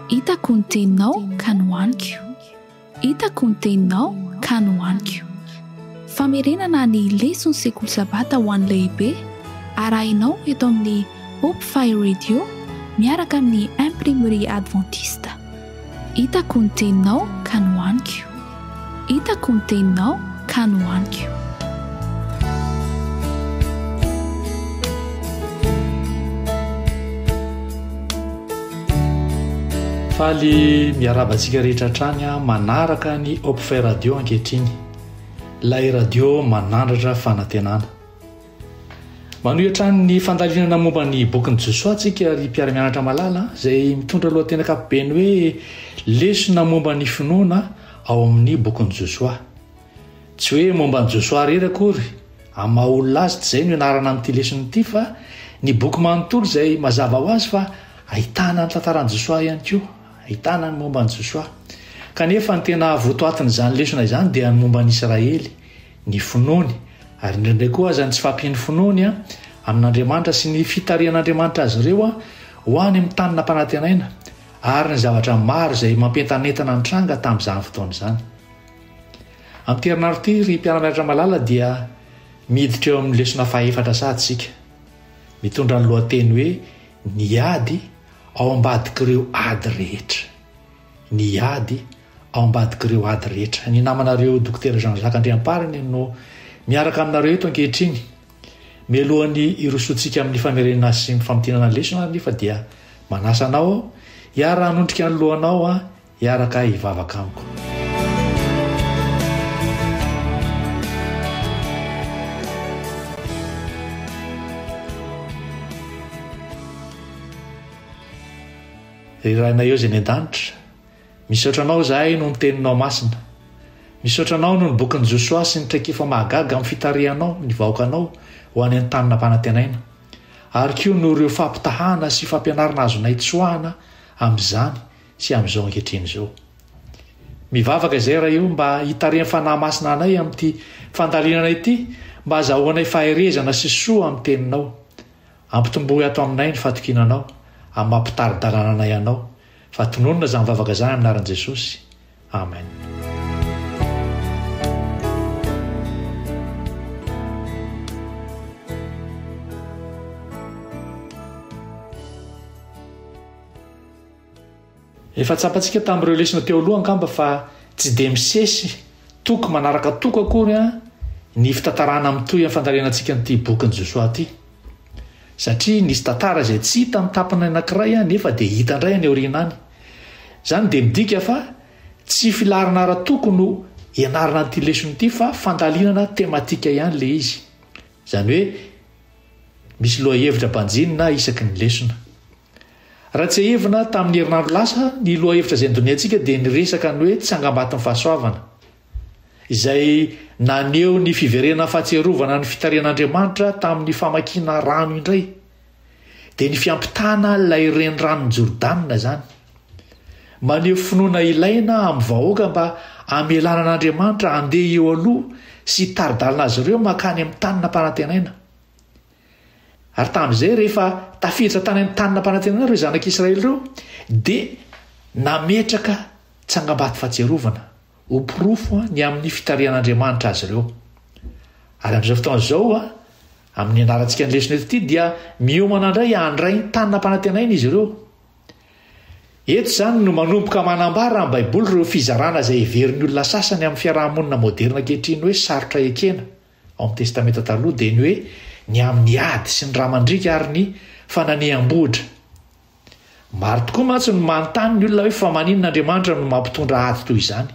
Hitako ny teninao ka nohaniko. Hitako ny teninao ka nohaniko. Famerenana ny leson'ny sekoly Sabata ho an'ny lehibe arahinao eto amin'ny Hope Fire Radio miaraka amin'ny Imprimerie Adventiste. Hitako ny teninao ka nohaniko. Hitako ny teninao ka nohaniko. Faly miarahaba antsika rehetra hatrany manaraka ny Hopefy Radio ankehitriny. Ilay radio manandratra fanantenana. Manohy hatrany ny fandalinana momba ny bokin'i Josoa antsika ry mpiara-mianatra malala izay mitondra lohateny ankapobeny hoe Lesona momba ny finoana ao amin'ny bokin'i Josoa. Tsy hoe momba an'i Josoa irery akory amin'ny maha olona azy tsy izay no ianarana amin'ity lesona ity fa ny boky manontolo izay mazava ho azy fa ahitana ny tantaran'i Josoa ihany koa, ahitana ny momba an'i Josoa. Kanefa ny tena votoatin'izany lesona izany dia ny momba an'i Israely ny finoany, ary indraindray koa aza ny tsy fahampian'ny finoany amin'Andriamanitra sy ny fitarihan'Andriamanitra azy ireo ho any amin'ny tany nampanantenaina, ary ny zavatra maro izay mampientanentana nitranga tamin'izany fotoana izany. Amin'ity herinandro ity, ry mpiara-mianatra malala, dia miditra eo amin'ny lesona fahefatra sady isika, mitondra ny lohateny hoe Ny ady ao ambadik'ireo ady rehetra. Ny ady ao ambadik'ireo ady rehetra. Ny namanareo Dokotera Jean Jacques Andriampariny no miaraka aminareo eto ankehitriny. Mialohan'ny hirosoantsika amin'ny famerenana sy ny famintinana ny lesona ary nefa dia manasa anao aho hiara-hanondrika ny lohanao aho hiaraka hivavaka amiko. Ry Rainay Ozy any an-danitra, misaotra Anao izahay noho ny Teninao masina. Misaotra Anao noho ny bokin'i Josoa sy ny traikefa mahagaga amin'ny fitarihanao ny vahoakanao ho any amin'ny tany nampanantenaina, ary koa noho ireo fampitahana sy fampianarana azonay tsoahana amin'izany sy amin'izao ankehitriny izao. Mivavaka izay Ray o mba hitarihan'ny Fanahy Masina anay amin'ity fandalinana ity mba azahoanay faherezana sy soa amin'ny Teninao. Ampitomboy ato aminay ny fatokiana Anao, amin'ny maha mpitari-dalana anay Anao, fa tononina izany vavaka izany amin'ny anaran'i Jesosy. Amen. Efa tsapantsika tamin'ireo lesona teo aloha angamba fa tsy dia misesy toko manaraka toko akory ny fitantarana mitohy amin'ny fandalinantsika an'ity bokin'i Josoa ity. Satria nisy tantara izay tsy hita amin'ny tapany anankiray nefa dia hita indray any aoriana any. Izany dia midika fa tsy filaharana ara-toko no ianarana an'ity lesona ity fa fandalinana tematika ihany ilay izy. Izany hoe misy lohahevitra banjinina isaky ny lesona. Raha tsiahivina, tamin'ny herinandro lasa, ny lohahevitra izay nodinihantsika dia ny resaka ny hoe Tsangambaton'ny Fahasoavana, izay naneho ny fiverenana fahatsiarovana ny fitarihan'Andriamanitra tamin'ny famakiana rano indray. Dia ny fiampitana ilay Reniranon'i Jordana izany. Maneho finoana ilaina amin'ny vahoaka mba hamelana an'Andriamanitra handeha eo aloha sy hitari-dalana azy ireo mankany amin'ny tany nampanantenaina. Ary tamin'izay rehefa tafiditra tany amin'ny Tany Nampanantenana ireo zanak'Israely ireo, dia nametraka tsangambato fahatsiarovana ho porofo ny amin'ny fitarihan'Andriamanitra azy ireo. Ary amin'izao fotoana izao, amin'ny ianarantsika ny lesona eto ity, dia miomana indray handray ny Tany Nampanantenaina izy ireo. Eto izany no manomboka manambara ny Baiboly ireo fizarana izay heverin'ny olona sasany amin'ny fiaraha-monina moderina ankehitriny hoe sarotra ekena. Ao amin'ny Testamenta Taloha dia ny hoe ny amin'ny ady sy ny ra mandriaka ary ny fananeham-bohitra. Maro tokoa mantsy no manontany ny olona hoe fa maninona Andriamanitra no mampitondra ady toy izany?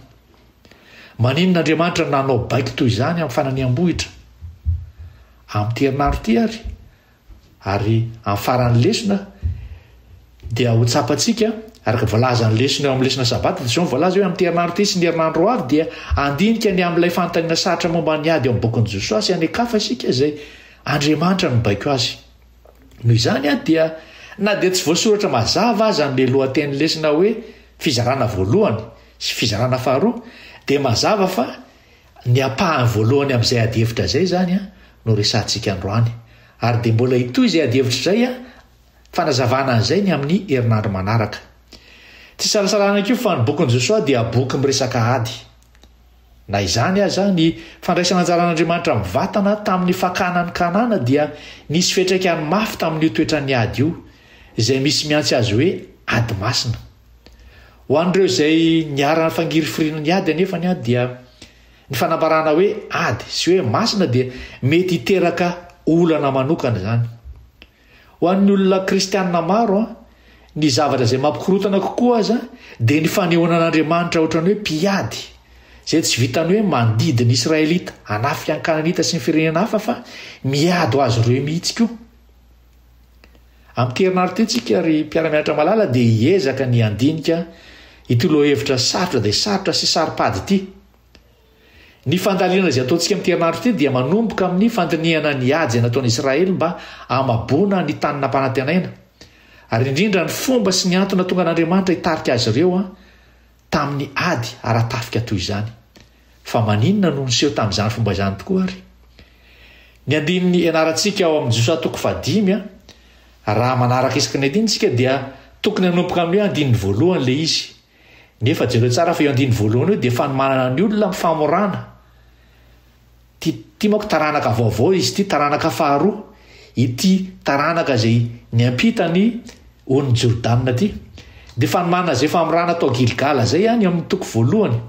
Maninona Andriamanitra nanao baiko toy izany amin'ny fananeham-bohitra? Amin'ity herinandro ity ary, Ary amin'ny faran'ny lesona dia ho tsapantsika, araka ny voalazan'ny lesona eo amin'ny lesona Sabata, dia izao no voalaza hoe amin'ity herinandro ity sy ny herinandro ho avy dia handinika ny amin'ilay fanontaniana sarotra momba ny ady ao amin'ny bokin'i Josoa sy any an-kafa isika izay Andriamanitra no nibaiko azy. Noho izany dia na dia tsy voasoratra mazava aza amin'ilay lohatenin'ny lesona hoe Fizarana voalohany sy Fizarana faharoa dia mazava fa Ny ampahany voalohany amin'izay adihevitra izay izany no resahantsika androany. Ary dia mbola hitohy izay adihevitra izay fanazavana an'izay ny amin'ny herinandro manaraka. Tsy isalasalana koa fa ny bokin'i Josoa dia boky miresaka ady. Na izany aza, ny fandraisana anjaran'Andriamanitra mivantana tamin'ny fakana an'i Kanana dia nisy fiantraikany mafy tamin'io toetran'ny ady io, izay misy mihantsy azy hoe ady masina. Ho an'ireo izay niharan'ny fangirifiriana ny ady anefa ny dia ny fanambarana hoe ady sy hoe masina dia mety hiteraka olana manokana izany. Ho an'ny olona kristianina maro, ny zavatra izay mampikorontana kokoa aza dia ny fanehoana an'Andriamanitra ohatran'ny hoe mpiady izay tsy vitan'ny hoe mandidy ny Israelita, hanafika ny Kananita sy ny firenena hafa fa miady ho azy ireo mihitsy koa. Amin'ity herinandro ity tsika ry mpiara-mianatra malala dia hiezaka ny handinika ity lohahevitra sarotra dia sarotra sy saropady ity. Ny fandalinana izay ataontsika amin'ity herinandro ity dia manomboka amin'ny fandinihana ny ady izay nataon'i Israely mba hamaboana ny tany nampanantenaina ary indrindra ny fomba sy ny antony natongan'Andriamanitra hitarika azy ireo tamin'ny ady ara-tafika toy izany. Fa maninona no niseho tamin'izany fomba izany tokoa àry? Ny andininy ianarantsika ao amin'ny Josa toko fahadimy a, raha manaraka isaky ny andininy isika dia tokony hanomboka amin'ny hoe andininy voalohany ilay izy. Nefa jereo tsara fa io andininy voalohany io dia fanomanana ny olona amin'ny famorana. Ty ty manko taranaka vaovao izy ty, taranaka faharoa, ity taranaka izay niampita ny ony Jordana ty. Dia fanomana izay famorana tao Gilgala izay any amin'ny toko voalohany.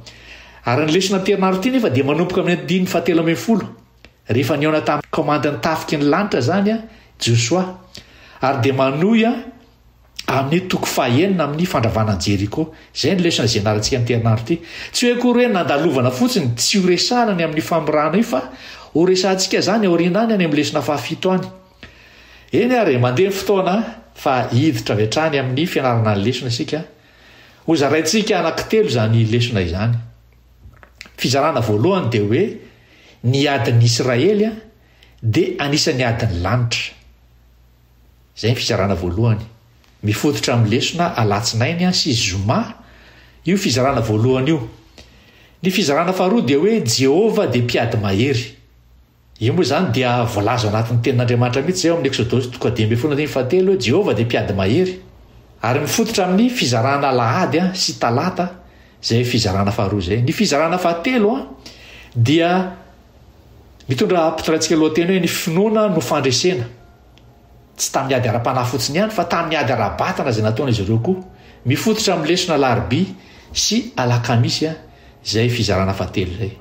Ary ny lesona am-perinandro ty nefa dia manomboka amin'ny andininy fahatelo ambin'ny folo, rehefa nihaona tamin'ny kaomandin'ny tafiky ny lanitra izany Josoa, ary dia manohy amin'ny toko fahenina amin'ny fandravana an'i Jeriko. Izay ny lesona izay nianarantsika an'ity herinandro ity. Tsy hoe akory hoe nandalovana fotsiny, tsy ho resahana ny amin'ny famorahana io fa ho resahantsika izany aoriana any any amin'ny lesona fahafito any. Eny ary, mandeha ny fotoana fa hiditra avy hatrany amin'ny fianarana ny lesona isika. Ho zaraintsika anankitelo izany lesona izany. Fizarana voalohany dia hoe ny adin'ny Israely dia anisan'ny adin'ny lanitra. Izay ny fizarana voalohany. Mifototra amin'ny lesona alatsinainy sy zoma io fizarana voalohany io. Ny fizarana faharoa dia hoe Jehovah dia mpiady mahery. Io moa izany dia voalaza ao anatin'ny Tenin'Andriamanitra mihitsy izay ao amin'ny Eksodosy toko dimy ambin'ny folo andininy fahatelo hoe Jehovah dia mpiady mahery. Ary mifototra amin'ny fizarana alahady sy talata izay fizarana faharoa izay. Ny fizarana fahatelo dia Mitondra ampitiraintsika lohateny hoe Ny Finoana no Fandresena. Tsy tamin'ny ady ara-panahy fotsiny ihany, fa tamin'ny ady ara-batana izay nataon'izy ireo koa. Mifototra amin'ny lesona Alarobia sy Alakamisy izay fizarana fahatelo izay.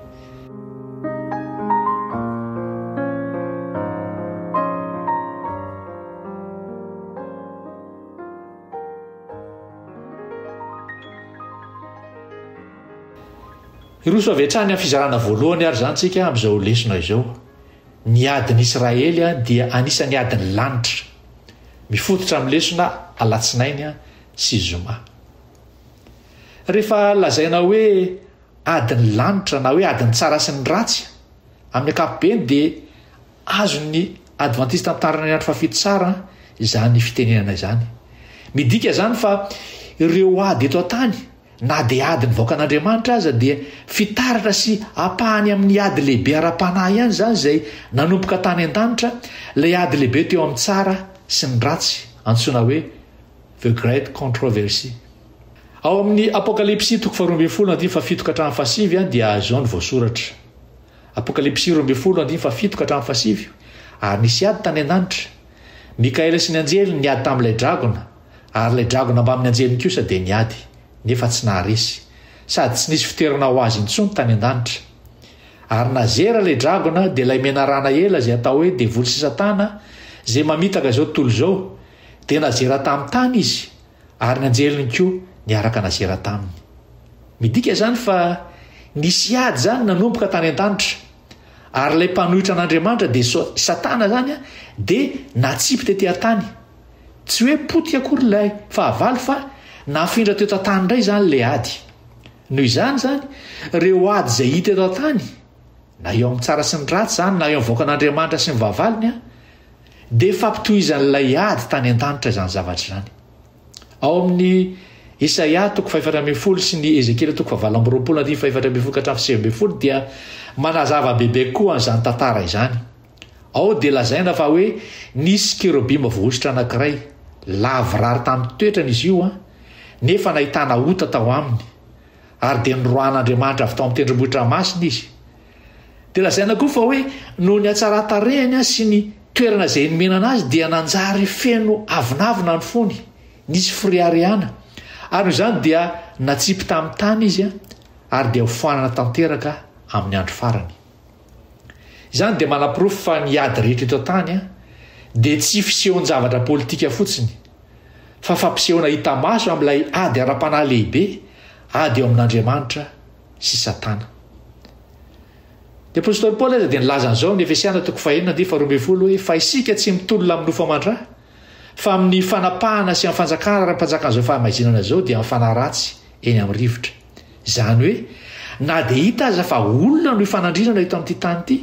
Hiroso avy hatrany amin'ny fizarana voalohany àry izany isika amin'izao lesona izao. Ny adin'i Israely dia anisan'ny adin'ny lanitra, mifototra amin'ny lesona alatsinainy sy zoma. Rehefa lazaina hoe adin'ny lanitra na hoe adin'ny tsara sy ny ratsy, amin'ny ankapobeny dia azon'ny Advantista Mitandrina ny Andro Fahafito tsara izany fitenenana izany. Midika izany fa ireo ady eto an-tany, Na dia ady ny vahoakan'Andriamanitra aza dia fitaratra sy ampahany amin'ny ady lehibe ara-panahy ihany izany izay nanomboka tany an-danitra, ilay ady lehibe teo amin'ny tsara sy ny ratsy antsoina hoe The Great Controversy. Ao amin'ny Apokalypsy toko faharoa ambin'ny folo andininy fahafito ka hatramin'ny fahasivy dia azo izao ny voasoratra. Apokalypsy roa ambin'ny folo andininy fahafito ka hatramin'ny fahasivy, Ary nisy ady tany an-danitra. Mikaela sy ny anjeliny niady tamin'ilay dragona, Ary ilay dragona mbamin'ny anjeliny kosa dia niady, nefa tsy naharesy, sady tsy nisy fitoerana ho azy intsony tany an-danitra. Ary nazera ilay dragona, dia ilay menarana ela izay atao hoe Devoly sy Satana, izay mamitaka izao tontolo izao, dia nazera tamin'ny tany izy, ary ny anjeliny koa niaraka nazera taminy. Midika izany fa nisy ady izany nanomboka tany an-danitra, ary ilay mpanohitra an'Andriamanitra, dia Satana izany, dia natsipy tety an-tany. Tsy hoe potika akory ilay fahavalo fa nafindra teto an-tany indray izany ilay ady. Noho izany izany, ireo ady izay hita eto an-tany, na eo amin'ny tsara sy ny ratsy izany na eo amin'ny vahoakan'Andriamanitra sy ny vahavalony, dia fampitohizan'ilay ady tany an-danitra izany zavatra izany. Ao amin'ny Isaia toko fahefatra ambin'ny folo sy ny Ezekiela toko fahavalo amby roapolo andininy fahefatra ambin'ny folo ka hatramin'ny sivy ambin'ny folo dia manazava bebe koa an'izany tantara izany. Ao dia lazaina fa hoe nisy kerobima voahosotra anankiray, lavorary tamin'ny toetrany izy io, nefa nahitana ota tao aminy, ary dia noroahan'Andriamanitra avy tao amin'ny tendrombohitra masina izy. Dia lazaina koa fa hoe noho ny hatsaran-tarehiny sy ny toerana izay nomenana azy dia nanjary feno avonavona ny fony, nisy fireharehana, ary noho izany dia natsipy tamin'ny tany izy, ary dia hofoanana tanteraka amin'ny andro farany. Izany dia manaporofo fa ny ady rehetra eto an-tany dia tsy fisehoan-javatra politika fotsiny, fa fampisehoana hita maso amin'ilay ady ara-panahy lehibe, ady eo amin'Andriamanitra sy Satana. Ny apostoly Paoly aza dia nilaza an'izao amin'ny Efesiana toko fahenina andinin'ny faharoa ambin'ny folo hoe, Fa isika tsy mitolona amin'ny nofo aman-dra, fa amin'ny fanapahana sy amin'ny fanjakana ara-panjakan'izao fahamaizinana izao dia mifanaratsy eny amin'ny rivotra. Izany hoe, na dia hita aza fa olona no ifanandrinana eto amin'ity tany ity,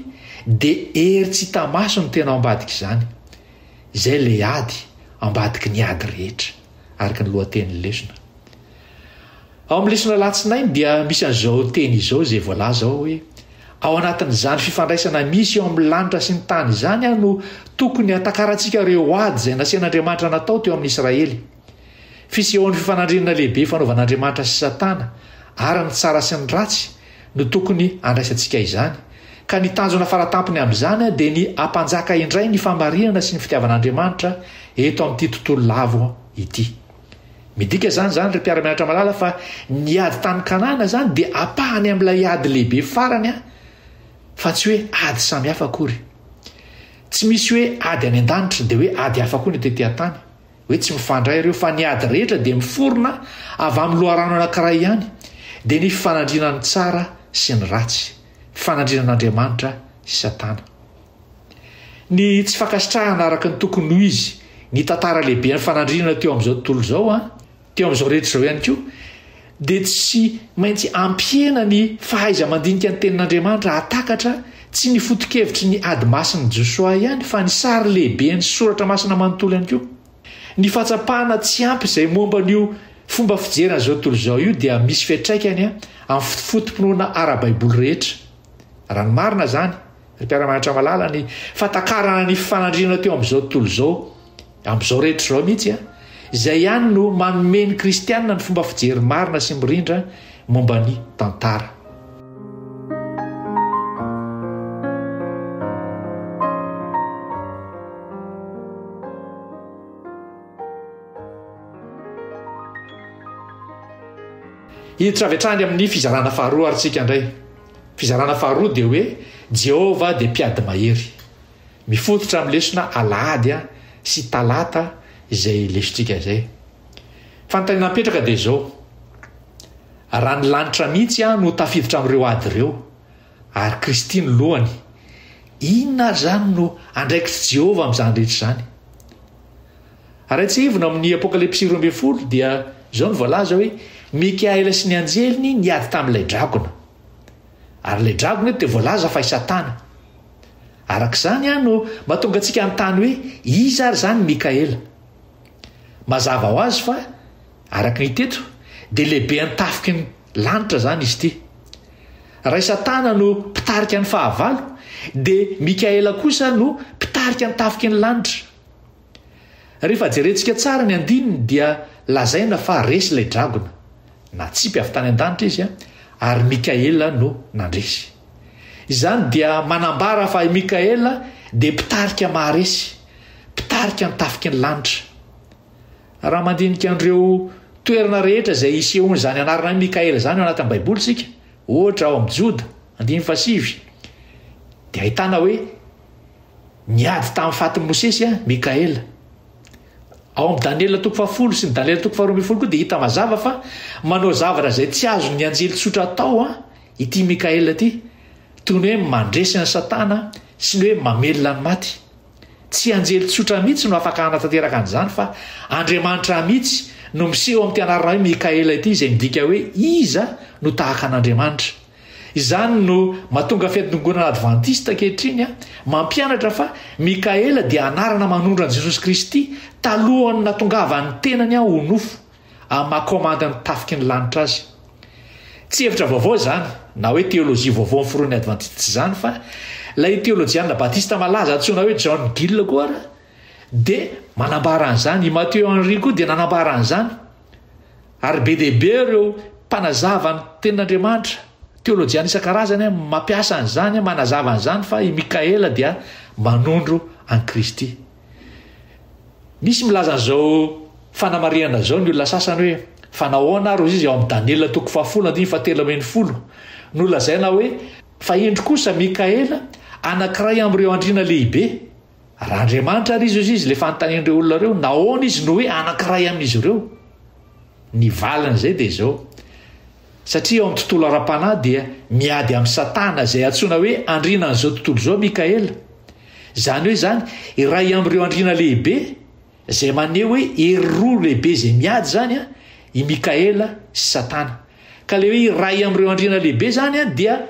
dia hery tsy hita maso no tena ao ambadik'izany. Izay ilay ady, ambadiky ny ady rehetra, araka ny lohatenin'ny lesona. Ao amin'ny lesona alatsinainy dia misy an'izao teny izao izay voalaza ao hoe ao anatin'izany fifandraisana misy eo amin'ny lanitra sy ny tany izany aho no tokony hatakarantsika ireo ady izay nasian'Andriamanitra natao teo amin'ny Israely. Fisehoan'ny fifanandrinana lehibe fanaovan'Andriamanitra sy Satana ary ny tsara sy ny ratsy no tokony handraisantsika izany. Ka ny tanjona faratampony amin'izany dia ny hampanjaka indray ny famarinana sy ny fitiavan'Andriamanitra eto amin'ity tontolo lavo ity. Midika izany zany ry mpiara-mianatra malala fa ny ady tany Kanana zany dia apahany amin'ilay ady lehibe farany an, fa tsy hoe ady samy hafa akory. Tsy misy hoe ady any an-danitra dia hoe ady hafa koa ny tety an-tany, hoe tsy mifandray ireo fa ny ady rehetra dia miforona avy amin'ny loharano anankiray ihany, dia ny fifanandrinan'ny tsara sy ny ratsy, fifanandrinan'Andriamanitra sy Satana. Ny tsy fankasitrahana araka ny tokony ho izy ny tantara lehiben'ny fanandrinana teo amin'izao tontolo izao, teo amin'izao rehetra izao ihany koa, dia tsy maintsy ampihena ny fahaiza-mandinika ny Tenin'Andriamanitra hahatakatra tsy ny foto-kevitry ny Ady Masin'i Josoa ihany fa ny sary lehiben'ny Soratra Masina manontolo ihany koa. Ny fahatsapana tsy ampy izay momba an'io fomba fijery an'izao tontolo izao io dia misy fiantraikany amin'ny fotopoto-pinoana ara-baiboly rehetra, raha ny marina izany, Ny mpiara-mianatra malala ny fahatakarana ny fanandrinana teo amin'izao tontolo izao, amin'izao rehetra izao mihitsy, izay ihany no manome ny kristianina ny fomba fijery marina sy mirindra momba ny tantara. Hiditra avy hatrany amin'ny fizarana faharoa ary tsika indray. Fizarana faharoa dia hoe Jehovah dia Mpiady Mahery. Mifototra amin'ny lesona Alahady sy Talata izay lesotsika izay. Fanontaniana mipetraka dia izao, Raha ny lanitra mihitsy no tafiditra amin'ireo ady ireo, ary Kristy no lohany, inona ary izany no andraikitr'i Jehovah amin'izany rehetra izany? Raha tsiahivina ao amin'ny Apokalypsy roa ambin'ny folo dia izao no voalaza hoe Mikaela sy ny anjeliny niady tamin'ilay dragona. Ary ilay dragona eto dia voalaza fa i Satana. Araka izany aho no mahatonga antsika hanontany hoe iza ary izany Mikaela. Mazava ho azy fa Araka ny hita eto dia lehibe an-tafiky ny lanitra izany izy ity. Raha i Satana no mpitarika ny fahavalo dia Mikaela kosa no mpitarika ny tafiky ny lanitra. Rehefa jerentsika tsara ny andininy dia lazaina fa resy ilay dragona. Natsipy avy tany an-danitra izy ary Mikaela no nandresy. Izany dia manambara fa i Mikaela dia mpitarika maharesy, mpitarika ny tafiky ny lanitra. Raha mandinika an'ireo toerana rehetra izay isehoan'izany anarana hoe Mikaela izany ao anatin'ny Baiboly isika, ohatra ao amin'ny Joda andimy fahasivy, dia ahitana hoe niady tamin'ny fatin'i Mosesy an, Mikaela. Ao amin'ny Daniela toko fahafolo sy ny Daniela toko faharoa ambin'ny folo koa dia hita mazava fa manao zavatra izay tsy azon'ny anjely tsotra atao an, ity Mikaela ity, toy ny hoe mandresy an'i Satana sy ny hoe mamelona ny maty. Tsy anjely tsotra mihitsy no afaka hanatanteraka an'izany fa Andriamanitra mihitsy no miseho amin'ity anarana hoe Mikaela ity izay midika hoe iza no tahaka an'Andriamanitra. Izany no matonga fiantongonana advantista ankehitriny mampianatra fa Mikaela dia anarana manondro an'i Jesosy Kristy talohan'ny natongavan'ny tenany ho nofo. amin'ny maha kaomandy ny tafiky ny lanitra azy. Tsy hevitra vaovao izany, na hoe teolojia vaovao ny foronin'ny Advantista tsy izany fa ilay teolojianina batista malaza antsoina hoe John Gill koa ary dia manambara an'izany, i Matthew Henry koa dia nanambara an'izany. Ary be dia be ireo mpanazava ny tenin'Andriamanitra teolojiana isan-karazany mampiasa an'izany manazava an'izany fa i Mikaela dia manondro an'i Kristy. Misy milaza an'izao fanamarihana izao ny olona sasany hoe, Fa nahoana ary hoy izy ao amin'ny Daniela toko fahafolo andiny fahatelo ambin'ny folo, no lazaina hoe, Fa indro kosa Mikaela, anankiray amin'ireo andriana lehibe. Raha Andriamanitra ary izy hoy izy, ilay fanontanian'ireo olona ireo, nahoana izy no hoe anankiray amin'izy ireo? Ny valin'izay dia izao, Satria ao amin'ny tontolo ara-panahy dia miady amin'i Satana izay antsoina hoe andriana an'izao tontolo izao, Mikaela. Izany hoe izany, iray amin'ireo andriana lehibe, izay maneho hoe hery roa lehibe izay miady izany an, i Mikaela sy Satana. Ka ilay hoe iray amin'ireo andriana lehibe izany an dia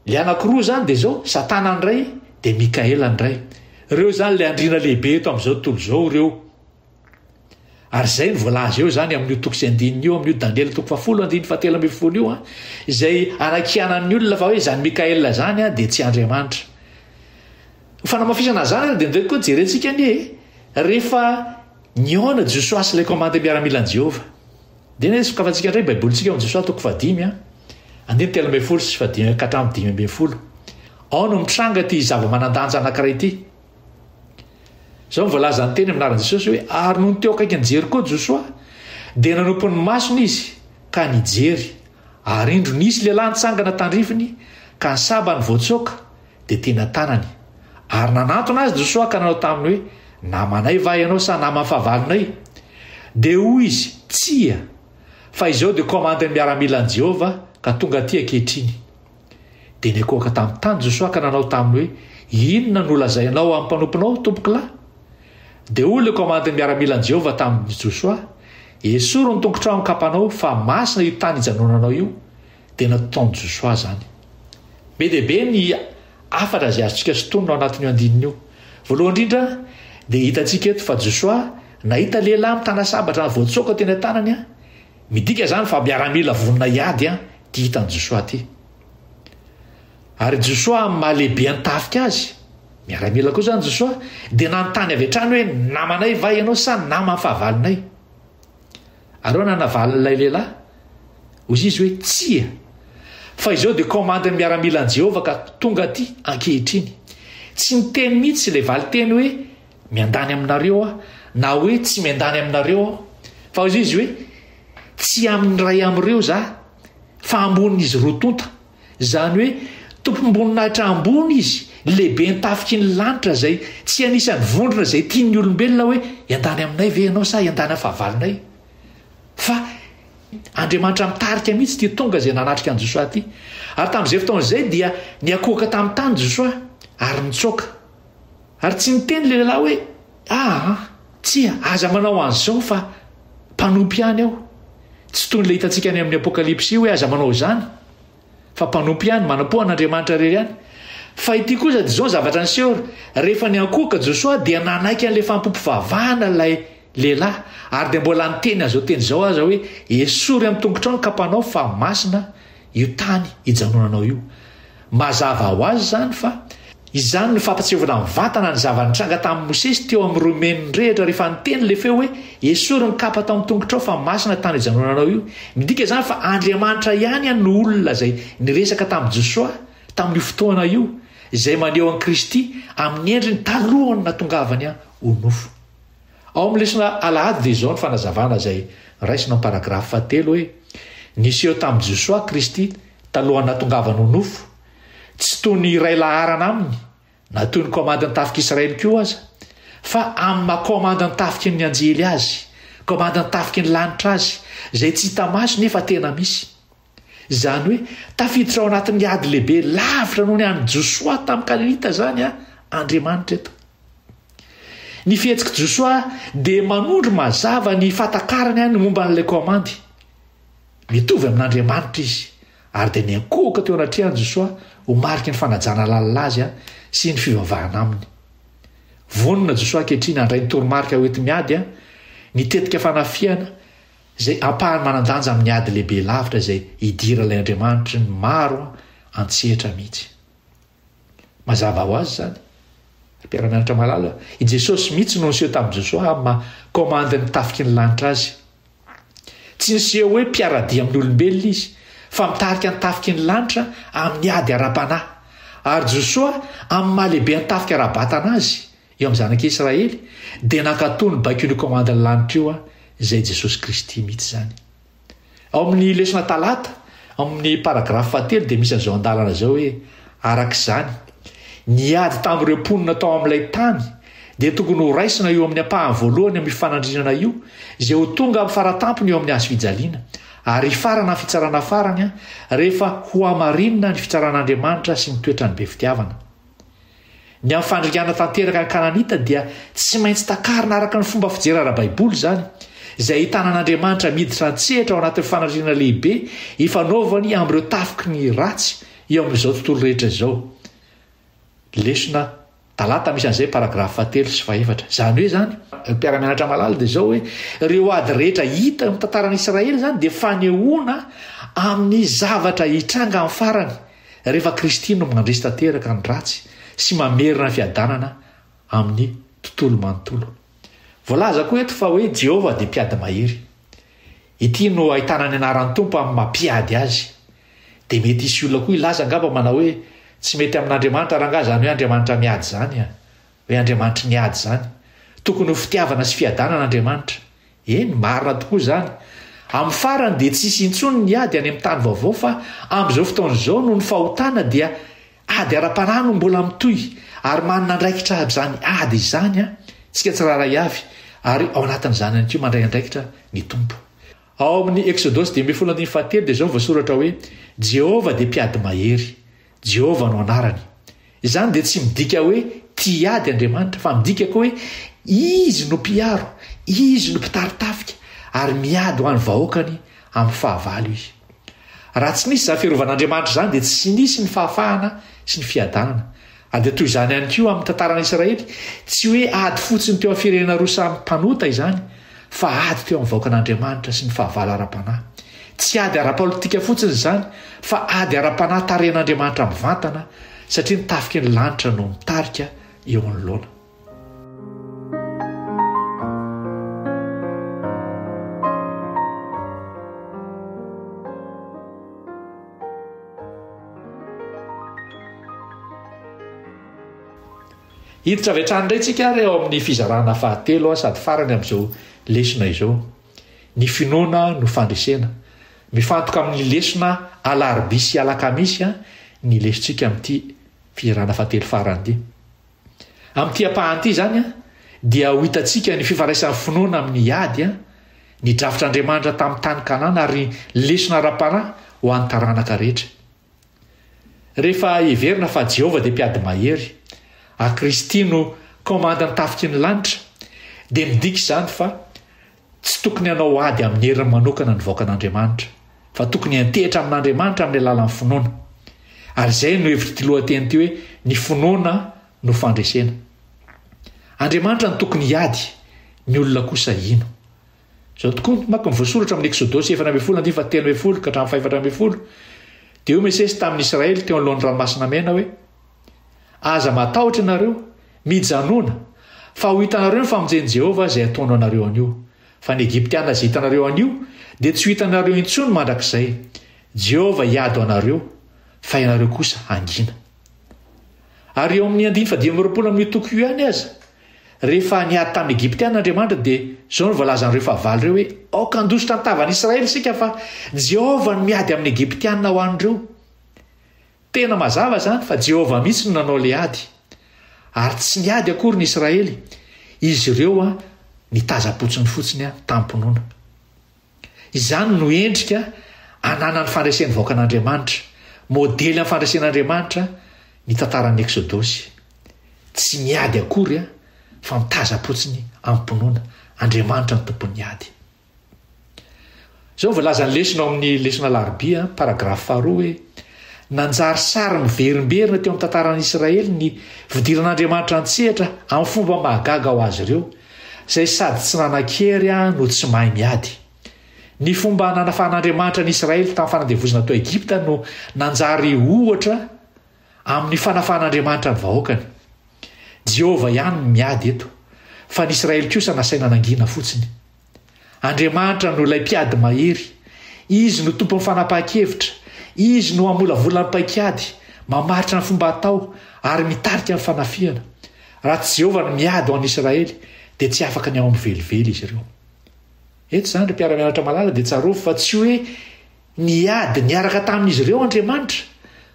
ilay anankiroa izany dia izao, Satana ny iray dia Mikaela ny iray. Ireo izany ilay andriana lehibe eto amin'izao tontolo izao ireo. Ary izay no voalaza eo izany amin'io toko sy andininy io amin'io Daniela toko fahafolo andininy fahatelo ambin'ny folo io an, izay anakianan'ny olona fa hoe izany Mikaela izany an dia tsy Andriamanitra. Ho fanamafisana izany ary dia indray koa jerentsika anie e, rehefa nihaona Josoa sy ilay kaomandy miaramilan'i Jehovah. Dia anie sokafantsika indray Baibolintsika ao amin'i Josoa toko fahadimy an, andininy telo ambin'ny folo sy fahadimy ka hatramin'ny dimy ambin'ny folo. Ao no mitranga ity zava-manan-danja anankiray ity. Izao ny voalazan'ny teny amin'ny anaran'i Jesosy hoe ary nony teo akaikin'i Jeriko Josoa dia nanompo ny masony izy ka nijery ary indro nisy lehilahy nitsangana tandrifiny ka ny sabany voatsoaka dia tena tanany ary nanantona azy Josoa ka nanao taminy hoe namanay va ianao sa naman'ny fahavalonay dia hoy izy tsia fa izao dia komandin'ny miaramilan'i Jehovah ka tonga aty ankehitriny Dia nikoaka tamin'ny tany Josoa ka nanao taminy hoe, Inona no lazainao amin'ny mpanomponao, tompokolahy? Dia hoy ilay komandin'ny miaramilan'i Jehovah tamin'i Josoa, Esory ny tongotrao an-kapanao, fa masina io tany ijanonanao io. Dia nataon'i Josoa izany. Be dia be ny hafatra izay azontsika sintonina ao anatin'io andininy io. Voalohany indrindra, dia hitantsika eto fa Josoa nahita lehilahy mitana sabatra voatsoaka teny an-tanany. Midika izany fa miaramila vonona hiady Ty hitan'i Josoa ty. Ary Josoa amin'ny maha lehibe an-tafika azy, miaramila koa zany Josoa, dia nanontany avy hatrany hoe namanay va ianao sa naman'ny fahavalonay? Ary hoana navalin'ilay lehilahy? Hoy izy hoe tsia. Fa izao dia komandin'ny miaramilan'i Jehovah ka tonga aty ankehitriny. Tsy niteny mihitsy ilay valinteny hoe Miandany aminareo aho, na hoe tsy miandany aminareo aho, fa hoy izy hoe, Tsy amin'ny iray amin'ireo izaho, fa ambonin'izy roa tonta, izany hoe tompom-boninahitra ambony izy, lehiben'ny tafiky ny lanitra, izay tsy anisan'ny vondrona izay tian'ny olombelona hoe hiandany aminay ve ianao sa hiandany amin'ny fahavalonay? Fa Andriamanitra mitarika mihitsy ity tonga izay nanatrika an'i Josoa ity. Ary tamin'izay fotoana izay dia niakohoka tamin'ny tany Josoa ary nitsoaka. Ary tsy niteny ilay lehilahy hoe, Aa, tsia, aza manao an'izao fa mpanompo ihany aho. Tsy toy ilay hitantsika any amin'ny Apokalypsy hoe aza manao izany, fa mpanompo ihany, manampoha an'Andriamanitra irery ihany. Fa ity kosa dia izao ny zavatra niseho, rehefa niankohoka Josoa dia nanaiky an'ilay fampim-pivavahana ilay lehilahy, ary dia mbola niteny an'izao teny izao aza hoe, Esory amin'ny tongotrao ny kapanao, fa masina io tany ijanonanao io. Mazava ho azy izany fa izany no fampatsiahovana mivantana ny zava-nitranga tamin'i Mosesy teo amin'ny Romain nirehitra rehefa niteny ilay feo hoe, Esory ny kapa tao amin'ny tongotrao fa masina tany ijanonanao io. Midika izany fa Andriamanitra ihany no olona izay niresaka tamin'i Josoa tamin'io fotoana io, izay maneho an'i Kristy amin'ny endriny talohan'ny nahatongavany ho nofo. Ao amin'ny lesona alahady dia izao ny fanazavana izay raisina ao amin'ny paragrafy fahatelo hoe, Niseho tamin'i Josoa Kristy talohan'ny nahatongavany ho nofo, tsy toy ny iray laharana aminy, na toy ny kaomandin'ny tafik'Israely koa aza, fa amin'ny maha-kaomandin'ny tafiky ny anjely azy, kaomandin'ny tafiky ny lanitra azy, izay tsy hita maso nefa tena misy. Izany hoe tafiditra ao anatin'ny ady lehibe lavitra noho ny an'i Josoa tamin'ny Kalinita izany Andriamanitra eto. Ny fihetsik'i Josoa dia manondro mazava ny fahatakarany ny momba an'ilay kaomandy. Mitovy amin'Andriamanitra izy, ary dia niankohoka teo anatrehan'i Josoa ho mariky ny fanajana lalina azy sy ny fivavahana aminy. Vonona Josoa ankehitriny handray ny toromarika hoenti-miady, ny tetika fanafihana, izay ampahany manan-danja amin'ny ady lehibe lavitra izay idiran'ilay Andriamanitry ny maro an-tsehatra mihitsy. Mazava ho azy izany, ry mpiara-mianatra malala, i Jesosy mihitsy no niseho tamin'i Josoa amin'ny maha komandin'ny tafiky ny lanitra azy. Tsy niseho hoe mpiara-dia amin'ny olombelona izy, fa mitarika ny tafiky ny lanitra amin'ny ady ara-panahy, ary Josoa amin'ny maha-lehibe ny tafika ara-batana azy, Eo amin'ny zanak'i Israely dia nankatò ny baikon'io kaomandin'ny lanitra io aho, izay Jesosy Kristy mihitsy izany. Ao amin'ny lesona Talata, ao amin'ny paragrafy fahatelo dia misy an'izao andalana izao hoe, Araka izany, ny ady tamin'ireo mponina tao amin'ilay tany dia tokony horaisina eo amin'ny ampahany voalohany amin'io fanandrinana io, izay ho tonga amin'ny faratampony eo amin'ny hazofijaliana, ary hifarana amin'ny fitsarana farany rehefa hohamarinina ny fitsaran'Andriamanitra sy ny toetrany be fitiavana. Ny amin'ny fandringana tanteraka ny Kananita dia tsy maintsy takarina araka ny fomba fijery ara-baiboly izany, izay ahitana an'Andriamanitra miditra an-tsehatra ao anatin'ny fanandrinana lehibe ifanaovany amin'ireo tafiky ny ratsy eo amin'izao tontolo rehetra izao. Lesona Talata misy an'izay paragrafy fahatelo sy fahefatra. Izany hoe izany, ry mpiara-mianatra malala, dia izao hoe ireo ady rehetra hita eo amin'ny tantaran'i Israely izany dia fanehoana amin'ny zavatra hitranga amin'ny farany. Rehefa Kristy no mandresy tanteraka ny ratsy sy mamerina ny fiadanana amin'ny tontolo manontolo. Voalaza koa eto fa hoe Jehovah dia mpiady mahery. Ity no ahitana ny anaran'ny Tompo amin'ny maha mpiady azy. Dia mety hisy olona koa hilaza angamba manao hoe tsy mety amin'Andriamanitra rangaha izany hoe Andriamanitra miady izany, hoe Andriamanitry ny ady izany. Tokony ho fitiavana sy fiadanana Andriamanitra. Eny, marina tokoa izany. Amin'ny farany dia tsy hisy intsony ny ady any amin'ny tany vaovao fa amin'izao fotoana izao noho ny fahotana dia ady ara-panahy no mbola mitohy ary manana andraikitra amin'izany ady izany isika tsirairay avy ary ao anatin'izany ihany koa mandray andraikitra ny Tompo. Ao amin'ny Eksodosy dimy ambin'ny folo andininy fahatelo dia izao no voasoratra hoe, Jehovah dia mpiady mahery. Jehovah no anarany. Izany dia tsy midika hoe tia ady Andriamanitra, fa midika koa hoe izy no mpiaro, izy no mpitari-tafika, ary miady ho an'ny vahoakany amin'ny fahavalo izy. Raha tsy nisy izany firovan'Andriamanitra izany, dia tsy nisy ny fahafahana sy ny fiadanana. Ary dia toy izany ihany koa amin'ny tantaran'Israely, tsy hoe ady fotsiny teo amin'ny firenena roa samy mpanota izany, fa ady teo amin'ny vahoakan'Andriamanitra sy ny fahavalo ara-panahy. Tsy ady ara-politika fotsiny izany, fa ady ara-panahy tarihan'Andriamanitra mivantana, satria ny tafiky ny lanitra no mitarika eo anoloana. Hiditra avy hatrany indray tsika ary ao amin'ny fizarana fahatelo sady farany amin'izao lesona izao. Ny finoana no fandresena. Mifantoka amin'ny lesona alarobia sy alakamisy ny lesontsika amin'ity fizarana fahatelo farany ity. Amin'ity ampahany ity izany dia ho hitantsika ny fifandraisan'ny finoana amin'ny ady, ny drafitr'Andriamanitra tamin'ny tany Kanana ary ny lesona ara-panahy ho an'ny taranaka rehetra. Rehefa heverina fa Jehovah dia Mpiady Mahery, ary Kristy no Komandin'ny tafiky ny lanitra, dia midika izany fa tsy tokony hanao ady amin'ny heriny manokana ny vahoakan'Andriamanitra, fa tokony hiantehitra amin'Andriamanitra amin'ny alalan'ny finoana. Ary izay no hevitr'ity lohateny ity hoe Ny finoana no fandresena. Andriamanitra no tokony hiady, ny olona kosa hino. Izao tokoa, maka ny voasoratra amin'ny Eksodosy efatra ambin'ny folo andininy fahatelo ambin'ny folo ka hatramin'ny fahefatra ambin'ny folo, dia hoy Mosesy tamin'ny Israely teo anoloan'ny Ranomasina Mena hoe, Aza matahotra ianareo, mijanòna, fa ho hitanareo ny famonjen'i Jehovah izay ataony ho anareo anio, fa ny Egyptiana izay hitanareo anio dia tsy ho hitanareo intsony mandrakizay. Jehovah hiady ho anareo, fa ianareo kosa hangina. Ary eo amin'ny andininy fahadimy amby roapolo amin'io toko io ihany aza, Rehefa niady tamin'ny Egyptiana Andriamanitra dia izao no voalazan'ireo fahavalo ireo hoe, Aoka handositra ny tavan'Israely isika fa Jehovah no miady amin'ny Egyptiana ho an'ireo. Tena mazava izany fa Jehovah mihitsy no nanao ilay ady. Ary tsy niady akory ny Israely, izy ireo nitazam-potsiny fotsiny tamim-pinoana. Izany no endrika ananan'ny fandresen'ny vahoakan'Andriamanitra, modely amin'ny fandresen'Andriamanitra ny tantaran'ny Eksodosy. Tsy miady akory fa mitazam-potsiny amim-pinoana, Andriamanitra no tompon'ny ady. Izao no voalazan'ny lesona ao amin'ny lesona alarobia, paragrafy faharoa hoe, Nanjary sary miverimberina teo amin'ny tantaran'Israely ny fidiran'Andriamanitra an-tsehatra amin'ny fomba mahagaga ho azy ireo, izay sady tsy nanan-kery no tsy mahay miady. Ny fomba nanafahan'Andriamanitra an'i Israely tamin'ny fanandevozana tao Egypta no nanjary ohatra amin'ny fanafahan'Andriamanitra ny vahoakany. Jehovah ihany no miady eto, fa ny Israely kosa nasaina nangina fotsiny. Andriamanitra no ilay mpiady mahery. Izy no tompon'ny fanapahan-kevitra. Izy no hamolavola ny paik'ady, mamaritra ny fomba atao, ary mitarika ny fanafihana. Raha tsy Jehovah no miady ho an'ny Isiraely, dia tsy afaka ny ao amin'ny velively izy ireo. Eto izany, ry mpiara-mianatra malala, dia tsarovy fa tsy hoe niady niaraka tamin'izy ireo Andriamanitra,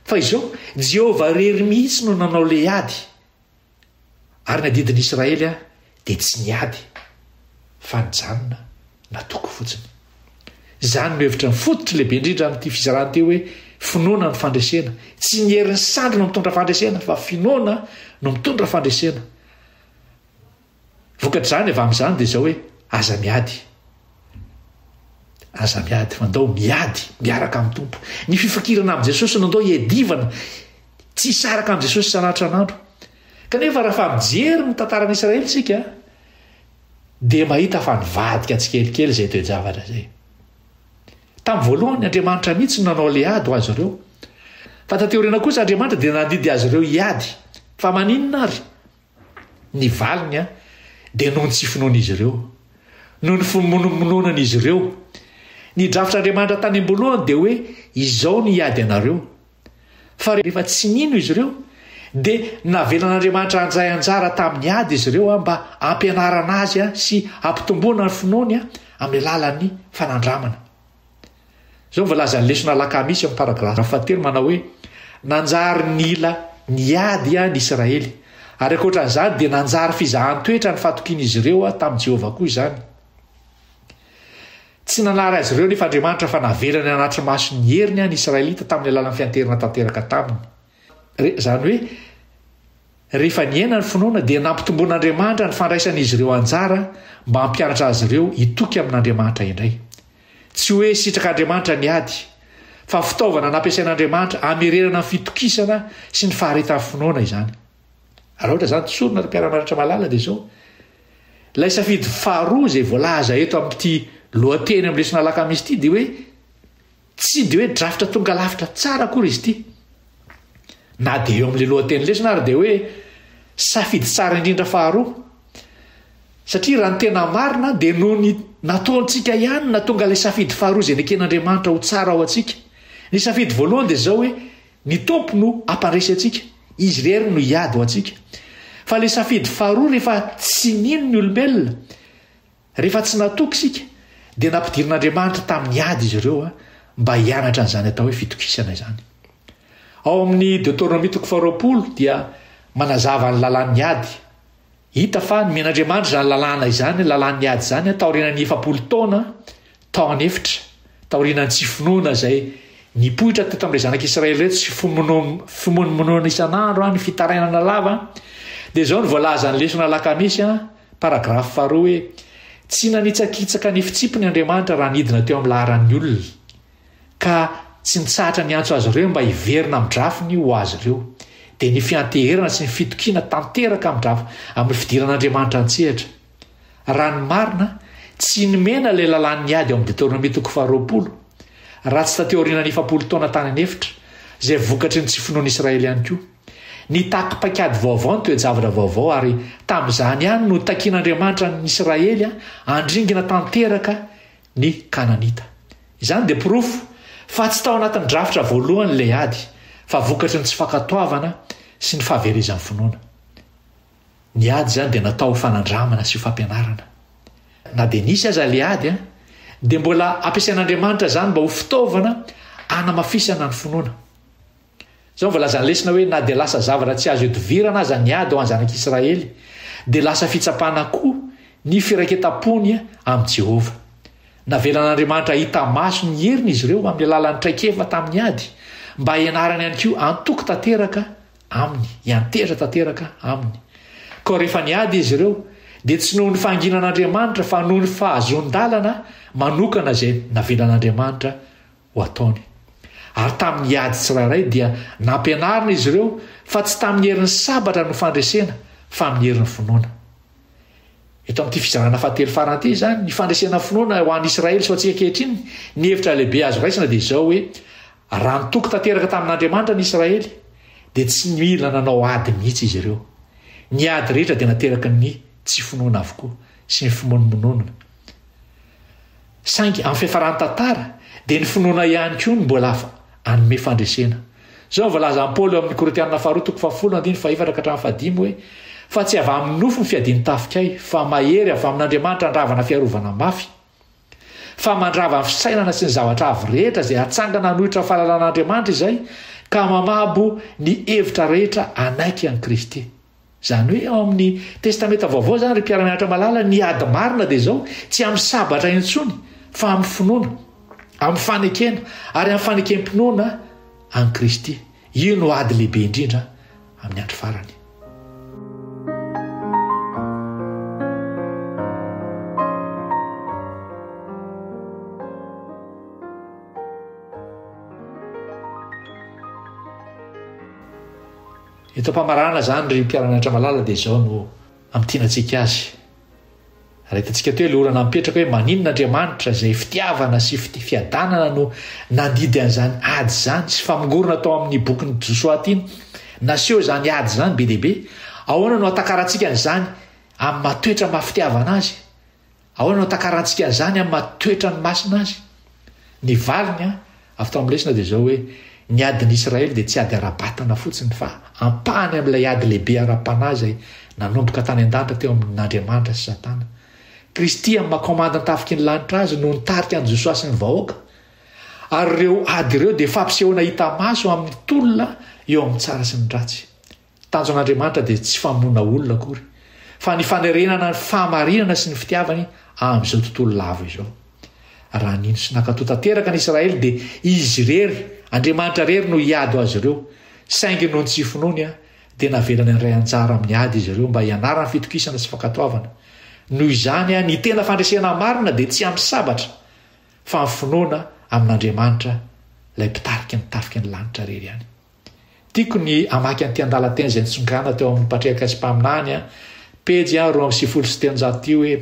fa izao, Jehovah irery mihitsy no nanao ilay ady. Ary ny adidin'ny Israely aho dia tsy niady fa nijanona natoky fotsiny. Izany no hevitra fototry lehibe indrindra amin'ity fizarana ity hoe finoana ny fandresena. Tsy ny herin'ny sandry no mitondra fandresena fa finoana no mitondra fandresena. Vokatr'izany avy amin'izany dia izao hoe aza miady. Aza miady, fa ndao miady miaraka amin'ny Tompo. Ny fifankirana amin'i Jesosy no ndao iadivana, tsy hisaraka amin'i Jesosy isan'atran'andro. Kanefa rafa mijery ny tantaran'Israely isika dia mahita fa nivadika tsikelikely izay toe-javatra izay. Tamin'ny voalohany Andriamanitra mihitsy no nanao le ady ho azy ireo. Fa taty aoriana kosa Andriamanitra dia nandidy azy ireo hiady. Fa maninona ary? Ny valiny dia noho ny tsy finoan'izy ireo, noho ny fimonomononan'izy ireo. Ny drafitr'Andriamanitra tany am-boalohany dia hoe izao ny hiady anareo. Fa rehefa tsy nino izy ireo, dia navelan'Andriamanitra handray anjara tamin'ny ady izy ireo mba hampianarana azy sy hampitomboana ny finoany amin'ny alalan'ny fanandramana. Izao ny voalazan'ny lesona alakamisy amin'ny paragraphe fahatelo manao hoe, Nanjary nila niady ny Isiraely, ary ankoatra an'izany dia nanjary fizahan-toetra ny fahatokian'izy ireo tamin'i Jehovah koa izany. Tsy nanary azy ireo anefa Andriamanitra fa navelany hanatri-maso ny heriny ny Isiraelita tamin'ny alalan'ny fianteherana tanteraka taminy. Re, izany hoe, rehefa niaina ny finoana dia nampitomboin'Andriamanitra ny fandraisan'izy ireo anjara mba hampianatra azy ireo hitoky amin'Andriamanitra indray. Tsy hoe sitrak'Andriamanitra ny ady, fa fitaovana nampiasain'Andriamanitra hamerenana ny fitokisana sy ny faharetan'ny finoana izany. Raha ohatra izany tsorina ry mpiara-mianatra malala dia izao, ilay safidy faharoa izay voalaza eto amin'ity lohateny amin'ny lesona alakamisy ity dia hoe Tsy dia hoe drafitra tonga lavitra tsara akory izy ity. Na dia eo amin'ilay lohateny lesona ary dia hoe safidy tsara indrindra faharoa. Satria raha ny tena marina dia noho ny nataontsika ihany na tonga ilay safidy faharoa izay neken'Andriamanitra ho tsara ao antsika. Ny safidy voalohany dia izao hoe ny Tompo no hampandresy antsika, Izy irery no hiady ho antsika. Fa ilay safidy faharoa rehefa tsy nino ny olombelona, Rehefa tsy natoky isika, dia nampidirin'Andriamanitra tamin'ny ady izy ireo mba hianatra an'izany atao hoe fitokisana izany. Ao amin'ny Deoteronomia toko faharoapolo dia manazava ny lalàn'ny ady. Hita fa nomen'Andriamanitra izany lalàna izany, lalàn'ny ady izany, taorianan'ny efapolo taona tao an'efitra, taorianan'ny tsy finoana izay nipoitra teto amin'ireo zanak'i Israely ireto sy fimonomonoana isan'andro ny fitarainana lava, dia izao no voalazan'ny lesona alakamisy, paragrafy faharoa hoe tsy nanitsakitsaka ny fitsipiny Andriamanitra raha nidina teo amin'ny laharan'ny olona, ka tsy nitsahatra niantso azy ireo mba hiverina amin'ny drafiny ho azy ireo. Dia ny fianteherana sy ny fitokiana tanteraka amin'ny drafy amin'ny fidiran'Andriamanitra an-tsehatra. Raha ny marina, tsy nomena ilay lalàn'ny ady ao amin'ny Deteronomia toko faharoapolo, raha tsy tateo aorianan'ny efapolo taona tany an'efitra, izay vokatry ny tsy finoan'Israely ihany koa. Nitaky paikady vaovao ny toe-javatra vaovao, ary tamin'izany ihany no takian'Andriamanitra an'ny Israely handringana tanteraka ny Kananita. Izany dia porofo fa tsy tao anatin'ny drafitra voalohany ilay ady, fa vokatry ny tsy fankatoavana sy ny fahaverezan'ny finoana. Ny ady izany dia natao ho fanandramana sy ho fampianarana. Na dia nisy aza ilay ady, dia mbola ampiasain'Andriamanitra izany mba ho fitaovana hanamafisana ny finoana. Izao no voalazan'ny lesona hoe na dia lasa zavatra tsy azo ihodivirana aza ny ady ho an'ny zanak'Israely, dia lasa fitsapana koa ny firaiketam-pony amin'i Jehovah. Navelan'Andriamanitra hahita maso ny heriny izy ireo amin'ny alalan'ny traikefa tamin'ny ady, mba hianarany ihany koa antoky tanteraka Aminy, hiantehitra tanteraka Aminy. Koa rehefa niady izy ireo, dia tsy noho ny fahanginan'Andriamanitra fa noho ny fahazoan-dalana manokana izay navelan'Andriamanitra ho ataony. Ary tamin'ny ady tsirairay dia nampianarina izy ireo fa tsy tamin'ny herin'ny sabatra no fandresena fa amin'ny herin'ny finoana. Eto amin'ity fizarana fahatelo farany ity izany, ny fandresena finoana ho an'i Israely sy ho antsika ankehitriny, ny hevitra lehibe azo raisina dia izao hoe Raha nitoky tanteraka tamin'Andriamanitra ny Israely, dia tsy nila nanao ady mihitsy izy ireo. Ny ady rehetra dia nateraky ny tsy finoana avokoa sy ny fimonomononana. Saingy, amin'ny fiafaran'ny tantara, dia ny finoana ihany koa no mbola hanome fandresena. Izao no voalazan'i Paoly ao amin'ny Korintianina Faharoa toko fahafolo andininy fahefatra ka hatramin'ny fahadimy hoe, Fa tsy avy amin'ny nofo ny fiadian-tafika ahy, fa mahery avy amin'Andriamanitra handravana fiarovana mafy. fa mandrava ny fisainana sy ny zavatra avo rehetra izay hatsangana hanohitra ny fahalalan'Andriamanitra izay ka mamabo ny hevitra rehetra hanaiky an'i Kristy. Izany hoe ao amin'ny Testamenta Vaovao izany ry mpiara-mianatra malala ny ady marina dia izao, tsy amin'ny sabatra intsony fa amin'ny finoana, amin'ny fanekena ary amin'ny fanekempinoana an'i Kristy. Io no ady lehibe indrindra amin'ny andro farany. Eto am-pamarana izany ry mpiara-mianatra malala dia izao no amintiana antsika azy. Raha hitantsika teo ilay olana mipetraka hoe maninona Andriamanitra izay fitiavana sy fiadanana no nandidy an'izany ady izany sy famongorona tao amin'ny bokin'i Josoa ity naseho izany ady izany be dia be. Ahoana no atakarantsika an'izany amin'ny matoetra mafitiavana azy? Ahoana no atakarantsika an'izany amin'ny matoetra ny masina azy? Ny valiny Avy tao amin'ny lesona dia izao hoe, ny adin'i Israely dia tsy ady ara-batana fotsiny fa ampahany amin'ilay ady lehibe ara-panahy izay nanomboka tany an-danitra teo amin'Andriamanitra sy Satana. Kristy amin'ny maha Kaomandan-tafiky ny lanitra Azy no nitarika an'i Josoa sy ny vahoaka, ary ireo ady ireo dia fampisehoana hita maso amin'ny tolona eo amin'ny tsara sy ny ratsy. Tanjon' Andriamanitra dia tsy famonoana olona akory, fa ny fanerenana ny fahamarinana sy ny fitiavany amin' izao tontolo lavo izao. Raha nino sy nankatò tanteraka ny Israely dia Izy irery, Andriamanitra irery no hiady ho azy ireo. Saingy noho ny tsy finoany dia navelany handray anjara amin'ny ady izy ireo mba hianarany fitokisana sy fankatoavana. Noho izany, ny tena fandresena marina dia tsy amin'ny sabatra, fa amin'ny finoana amin' Andriamanitra, ilay Mpitarika ny tafika ny lanitra irery ihany. Tiako ny hamaky an'ity andalan-teny izay nitsonganina teo amin'ny Patriarka sy Mpaminany a, pejy a roa amby sivifolo sy telonjato ity hoe,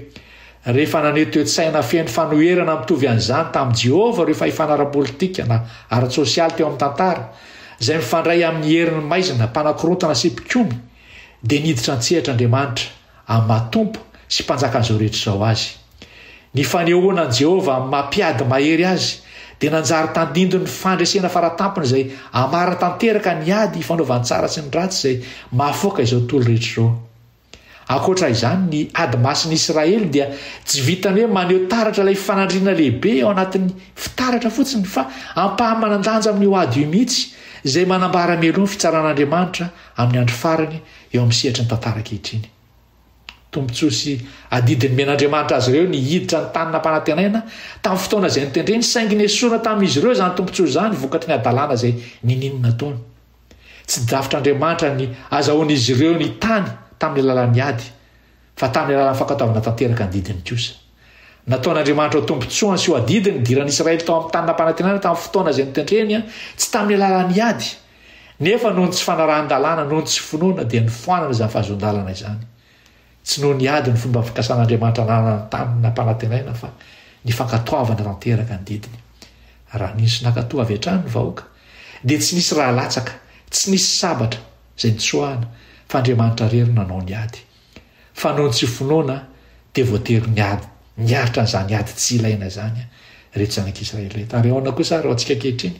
Rehefa naneho toe-tsaina feno fanoherana mitovy an'izany tamin'i Jehovah ireo fahefana ara-politika na ara-tsosialy teo amin'ny tantara, izay mifandray amin'ny herin'ny maizina mpanakorontana sy mpikomy, dia niditra an-tsehatra Andriamanitra. amin'ny maha Tompo sy Mpanjakan'izao rehetra izao azy. Ny fanehoana an'i Jehovah amin'ny maha Mpiady Mahery azy dia nanjary tandindon'ny fandresena faratampony izay hamarana tanteraka ny ady ifanaovan'ny tsara sy ny ratsy izay mahafaoka izao tontolo rehetra izao. Ankoatra izany, ny ady masin'ny Israely dia tsy vitan'ny hoe maneho taratra ilay fanandrinana lehibe ao anatin'ny fitaratra fotsiny, fa ampahamanan-danja amin'io ady io mihitsy, izay manambara mialoha ny fitsaran'Andriamanitra amin'ny andro farany eo amin'ny sehatry ny tantara ankehitriny. Tombontsoa sy adidy nomen'Andriamanitra azy ireo ny hiditra ny tany nampanantenaina tamin'ny fotoana izay notendreny, saingy nesorina tamin'izy ireo izany tombontsoa izany vokatry ny hadalana izay niniany nataony. Tsy drafitr'Andriamanitra ny azahoan'izy ireo ny tany tamin'ny alalan'ny ady, fa tamin'ny alalan'ny fankatoavana tanteraka ny didiny kosa. Nataon'Andriamanitra ho tombontsoany sy ho adidy ny idiran'i Israely tao amin'ny tany nampanantenana tamin'ny fotoana izay notendreny, tsy tamin'ny alalan'ny ady. Nefa noho ny tsy fanarahan-dalàna, noho ny tsy finoana, dia nifoanana izany fahazoan-dalana izany. Tsy noho ny ady ny fomba fikasan'Andriamanitra nanana ny tany nampanantenaina fa ny fankatoavana tanteraka ny didiny. Raha nino sy nankatò avy hatrany ny vahoaka, dia tsy nisy raha latsaka, tsy nisy sabatra izay nitsoahana, fa Andriamanitra irery no nanao ny ady. Fanaontsy finoana dia voatery niady niaritra an'izany ady tsy ilaina izany ireto zanak'Israely ireto. Ary ahoana kosa ary ho antsika ankehitriny?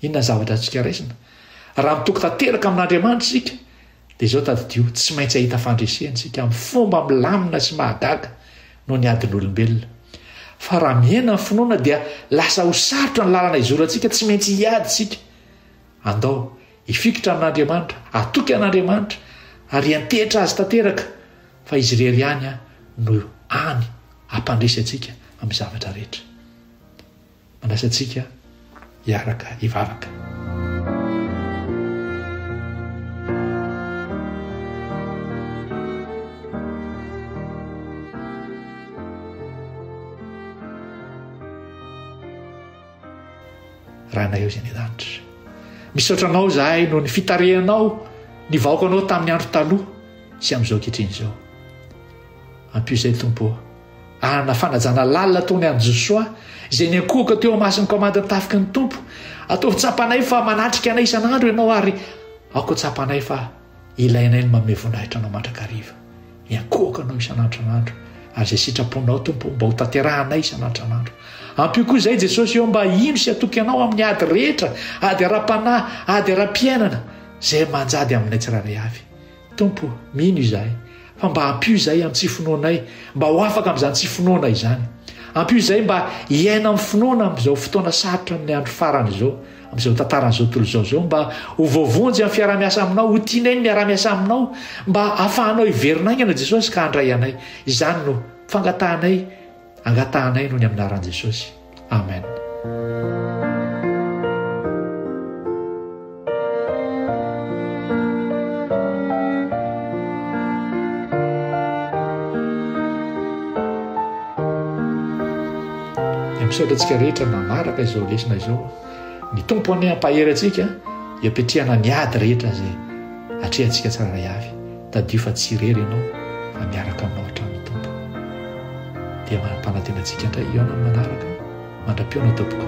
Inona ny zavatra azontsika raisina? Raha mitoky tanteraka amin'Andriamanitra isika, dia izao tadidio, tsy maintsy hahita fandreseny isika amin'ny fomba milamina sy mahagaga noho ny adin'olombelona. Fa raha mihena ny finoana dia lasa ho sarotra ny lalana izorantsika, tsy maintsy hiady isika. Andao hifikitra amin'Andriamanitra, hatoky an'Andriamanitra ary hiantehitra Azy tanteraka fa Izy irery ihany no hany hampandresy antsika amin'ny zavatra rehetra. Manasa antsika hiaraka hivavaka. Ranay Izy any an-danitra. Misaotra Anao izahay noho ny fitarihanao ny vahoakanao tamin'ny andro taloha sy amin'izao ankehitriny izao. Ampio izay Tompo anana fanajana lalina ataony any Josoa izay niankohoka teo amasin'ny kaomandin'ny tafiky ny Tompo. Ataovy tsapanay fa manatrika anay isan'andro Ianao ary aoka tsapanay fa Ilainay ny manome voninahitra Anao mandrakariva. Iankohako Anao isan'andron'andro, ary izay sitraponao, Tompo, mba hotanterahanay isan'andron'andro. Ampio koa izahay, Jesosy ô, mba hino sy hatoky Anao amin'ny ady rehetra, ady ara-panahy, ady ara-piainana, izay manjady aminay tsirairay avy. Tompo, mino izahay, Fa mba ampio izay antsy finoanay mba ho afaka amin'izany tsy finoana izany. Ampio izay mba hiaina amin'ny finoana amin'izao fotoana sarotra amin'ny andro farany izao, amin'izao tantaran'izao tontolo izao izao, mba ho voavonjy amin'ny fiaraha-miasa aminao, ho tianay ny miaraha-miasa aminao, mba hafahanao hiverina haingana Jesosy ka handray anay. Izany no fangatahanay. Angatahanay noho ny aminaran'i Jesosy. Amen. Dia misaotra antsika rehetra manaraka izao lesona izao. Ny Tompo anie hampahery antsika hiapetrehana ny ady rehetra izay atrehantsika tsirairay avy. Tadidio fa tsy irery ianao fa miaraka aminao hatrany ny Tompo. Dia manampanantena antsika indray hihaona amin'ny manaraka mandra-pihaona tompoko.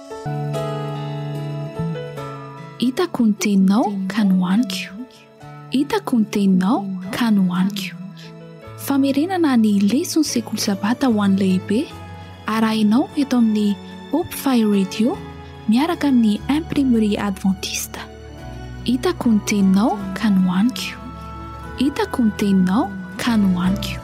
Hitako ny teninao ka nohaniko Hitako ny teninao ka nohaniko Famerenana ny leson'ny sekoly sabata ho an'ny lehibe arahinao eto amin'ny Hope Fire Radio miaraka amin'ny Imprimerie Adventiste. Hitako ny teninao ka nohaniko Hitako ny teninao ka nohaniko